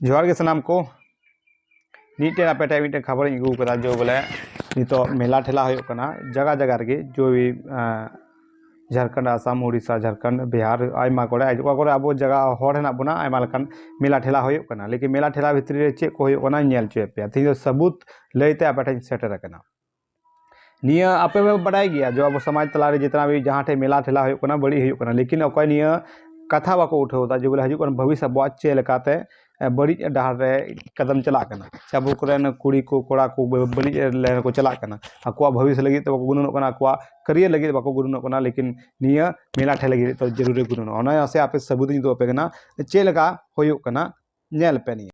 ᱡᱚᱦᱟᱨ ᱜᱮ ᱥᱟᱱᱟᱢ ᱠᱚ ᱢᱤᱫᱴᱮᱱ ᱟᱯᱮ ᱴᱷᱮᱱ ᱢᱤᱫᱴᱮᱱ ᱠᱷᱟᱵᱚᱨᱤᱧ ᱟᱹᱜᱩ ᱟᱠᱟᱫᱟ ᱡᱮ ᱵᱚᱞᱮ ᱱᱤᱛᱚᱜ ᱢᱮᱞᱟ ᱴᱷᱮᱞᱟ ᱦᱩᱭᱩᱜ ᱠᱟᱱᱟ ᱡᱟᱭᱜᱟ ᱡᱟᱭᱜᱟ ᱨᱮᱜᱮ ᱡᱳᱭ ᱡᱷᱟᱲᱠᱷᱚᱸᱰ ᱟᱥᱟᱢ ᱩᱲᱤᱥᱥᱟ ᱡᱷᱟᱲᱠᱷᱚᱸᱰ ᱵᱤᱦᱟᱨ ᱟᱭᱢᱟ ᱠᱚᱨᱮ ᱚᱠᱟ ᱠᱚᱨᱮ ᱟᱵᱚ ᱡᱟᱭᱜᱟ ᱦᱚᱲ ᱦᱮᱱᱟᱜ ᱵᱚᱱᱟ ᱟᱭᱢᱟ ᱞᱮᱠᱟᱱ ᱢᱮᱞᱟ ᱴᱷᱮᱞᱟ ᱦᱩᱭᱩᱜ ᱠᱟᱱᱟ ᱞᱮᱠᱤᱱ ᱢᱮᱞᱟ ᱴᱷᱮᱞᱟ ᱵᱷᱤᱛᱨᱤ ᱨᱮ ᱪᱮᱫ ᱠᱚ ᱦᱩᱭᱩᱜ ᱠᱟᱱᱟ ᱧᱮᱞ ᱦᱚᱪᱚᱭᱮᱫ ᱯᱮᱭᱟ ᱛᱮᱦᱮᱧ ᱫᱚ ᱥᱟᱹᱵᱩᱛ ᱞᱟᱹᱭᱛᱮ ᱟᱯᱮ ᱴᱷᱮᱱ ᱥᱮᱴᱮᱨ ᱟᱠᱟᱱᱟ ᱱᱤᱭᱟᱹ ᱟᱯᱮ ᱯᱮ ᱵᱟᱰᱟᱭ ᱜᱮᱭᱟ ᱡᱮ ᱟᱵᱚ ᱥᱚᱢᱟᱡᱽ ᱛᱟᱞᱟᱨᱮ ᱡᱮᱛᱱᱟ ᱵᱷᱤ ᱡᱟᱦᱟᱸ ᱴᱷᱮᱡ ᱢᱮᱞᱟ ᱴᱷᱮᱞᱟ ᱦᱩᱭᱩᱜ ᱠᱟᱱᱟ ᱵᱟᱹᱲᱤᱡ ᱦᱩᱭᱩᱜ ᱠᱟᱱᱟ ᱞᱮᱠᱤᱱ ᱚᱠᱚᱭ ᱱᱤᱭᱟᱹ ᱠᱟᱛᱷᱟ ᱵᱟᱠᱚ ᱩᱴᱷᱟᱹᱣ ᱮᱫᱟ ᱡᱮ ᱵᱚᱞᱮ ᱦᱤᱡᱩᱜ ᱠᱟᱱ ᱵᱷᱚᱵᱤᱥ ᱟᱵᱚᱣᱟᱜ ᱪᱮᱫ ᱞᱮᱠᱟᱛᱮ ᱵᱟᱹᱲᱤᱡ ᱰᱟᱦᱟᱨ ᱨᱮ ᱠᱟᱫᱚᱢ ᱪᱟᱞᱟᱜ ᱠᱟᱱᱟ ᱥᱮ ᱟᱵᱚ ᱠᱚᱨᱮᱱ ᱠᱩᱲᱤ ᱠᱚ ᱠᱚᱲᱟ ᱠᱚ ᱵᱟᱹᱲᱤᱡ ᱞᱟᱭᱤᱱ ᱨᱮᱠᱚ ᱪᱟᱞᱟᱜ ᱠᱟᱱᱟ ᱟᱠᱚᱣᱟᱜ ᱵᱷᱚᱵᱤᱥ ᱞᱟᱹᱜᱤᱫ ᱛᱮ ᱵᱟᱠᱚ ᱜᱩᱱᱟᱹᱱᱚᱜ ᱠᱟᱱᱟ ᱟᱠᱚᱣᱟᱜ ᱠᱟᱹᱨᱭᱟᱹᱨ ᱞᱟᱹᱜᱤᱫ ᱵᱟᱠᱚ ᱜᱩᱱᱟᱹᱱᱚᱜ ᱠᱟᱱᱟ ᱞᱮᱠᱤᱱ ᱱᱤᱭᱟᱹ ᱢᱮᱞᱟ ᱴᱷᱮᱞᱟ ᱞᱟᱹᱜᱤᱫ ᱛᱮ ᱡᱟᱹᱨᱩᱨᱤ ᱜᱩᱱᱟᱹᱱᱚᱜᱼᱟ ᱚᱱᱟ ᱟᱥᱮ ᱟᱯᱮ ᱥᱟᱹᱵᱩᱫᱤᱧ ᱩᱫᱩᱜ ᱟᱯᱮ ᱠᱟᱱᱟ ᱪᱮᱫ ᱞᱮᱠᱟ ᱦᱩᱭᱩᱜ ᱠᱟᱱᱟ ᱧᱮᱞ ᱯᱮ ᱱᱤᱭᱟᱹ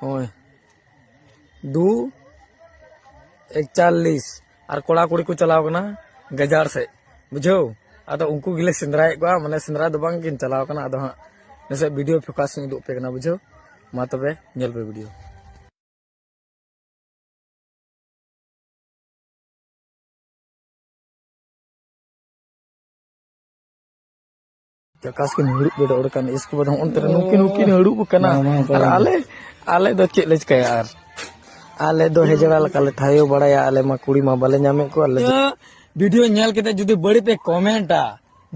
ᱦᱳᱭ ᱫᱩ ᱮᱠᱪᱟᱞᱞᱤᱥ ᱟᱨ ᱠᱚᱲᱟ ᱠᱩᱲᱤ ᱠᱚ ᱪᱟᱞᱟᱣ ᱠᱟᱱᱟ ᱜᱟᱡᱟᱲ ᱥᱮᱫ ᱵᱩᱡᱷᱟᱹᱣ ᱟᱫᱚ ᱩᱱᱠᱩ ᱜᱮᱞᱮ ᱥᱮᱸᱫᱽᱨᱟᱭᱮᱫ ᱠᱚᱣᱟ ᱢᱟᱱᱮ ᱥᱮᱸᱫᱽᱨᱟ ᱫᱚ ᱵᱟᱝ ᱠᱤᱱ ᱪᱟᱞᱟᱣ ᱠᱟᱱᱟ ᱟᱫᱚ ᱦᱟᱸᱜ ᱱᱟᱥᱮ ᱵᱷᱤᱰᱤᱭᱳ ᱯᱷᱳᱠᱟᱥ ᱤᱧ ᱩᱫᱩᱜ ᱯᱮ ᱠᱟᱱᱟ ᱵᱩᱡᱷᱟᱹᱣ ᱢᱟ ᱛᱚᱵᱮ ᱧᱮᱞ ᱯᱮ ᱵᱷᱤᱰᱤᱭᱳ ᱪᱟᱠᱟᱥ ᱠᱤᱱ ᱦᱩᱲᱩᱵ ᱜᱮᱰᱚ ᱚᱰᱠᱟᱱ ᱤᱥᱠᱮ ᱵᱟᱫ ᱦᱚᱸ ᱚᱱᱛᱮ ᱨᱮ ᱱᱩᱠᱤᱱ ᱦᱩᱠᱤᱱ ᱦᱩᱲᱩᱵ ᱠᱟᱱᱟ ᱟᱨ ᱟᱞᱮ ᱟᱞᱮ ᱫᱚ ᱪᱮᱫ ᱞᱮ ᱪᱤᱠᱟᱹᱭᱟ ᱟᱨ ᱟᱞᱮ ᱫᱚ ᱦᱮᱡᱲᱟ ᱞᱮᱠᱟ ᱞᱮ ᱛᱷᱟᱭᱚ ᱵᱟᱲᱟᱭᱟ ᱟᱞᱮ ᱢᱟ ᱠᱩᱲᱤ ᱢᱟ ᱵᱟᱞᱮ ᱧᱟᱢᱮᱫ ᱠᱚᱣᱟ ᱟᱞᱮ ᱵᱷᱤᱰᱤᱭᱳ ᱧᱮᱞ ᱠᱟᱛᱮ ᱡᱩᱫᱤ ᱵᱟᱹᱲᱤᱡ ᱯᱮ ᱠᱚᱢᱮᱱᱴᱟ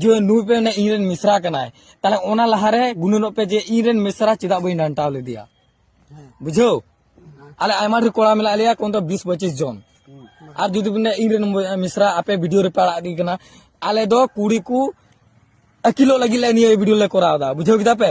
ᱡᱮ ᱱᱩᱭ ᱯᱮ ᱢᱟᱱᱮ ᱤᱧ ᱨᱮᱱ ᱢᱤᱥᱨᱟ ᱠᱟᱱᱟᱭ ᱛᱟᱦᱞᱮ ᱚᱱᱟ ᱞᱟᱦᱟᱨᱮ ᱜᱩᱱᱟᱹᱱᱚᱜ ᱯᱮ ᱡᱮ ᱤᱧ ᱨᱮᱱ ᱢᱤᱥᱨᱟ ᱪᱮᱫᱟᱜ ᱵᱟᱹᱧ ᱰᱟᱱᱴᱟᱣ ᱞᱮᱫᱮᱭᱟ ᱵᱩᱡᱷᱟᱹᱣ ᱟᱞᱮ ᱟᱭᱢᱟ ᱰᱷᱮᱨ ᱠᱚᱲᱟ ᱢᱮᱱᱟᱜ ᱞᱮᱭᱟ ᱠᱚᱢ ᱫᱚ ᱵᱤᱥ ᱯᱚᱸᱪᱤᱥ ᱡᱚᱱ ᱟᱨ ᱡᱩᱫᱤ ᱵᱤᱱ ᱤᱧ ᱨᱮᱱ ᱢᱤᱥᱨᱟ ᱟᱯᱮ ᱵᱷᱤᱰᱤᱭᱳ ᱨᱮᱯᱮ ᱟᱲᱟᱜ ᱜᱮ ᱠᱟᱱᱟ ᱟᱞᱮ ᱫᱚ ᱠᱩᱲᱤ ᱠᱚ ᱟᱹᱠᱤᱞᱚᱜ ᱞᱟᱹᱜᱤᱫ ᱞᱮ ᱱᱤᱭᱟᱹ ᱵᱷᱤᱰᱤᱭᱳ ᱞᱮ ᱠᱚᱨᱟᱣ ᱮᱫᱟ ᱵᱩᱡᱷᱟᱹᱣ ᱠᱮᱫᱟ ᱯᱮ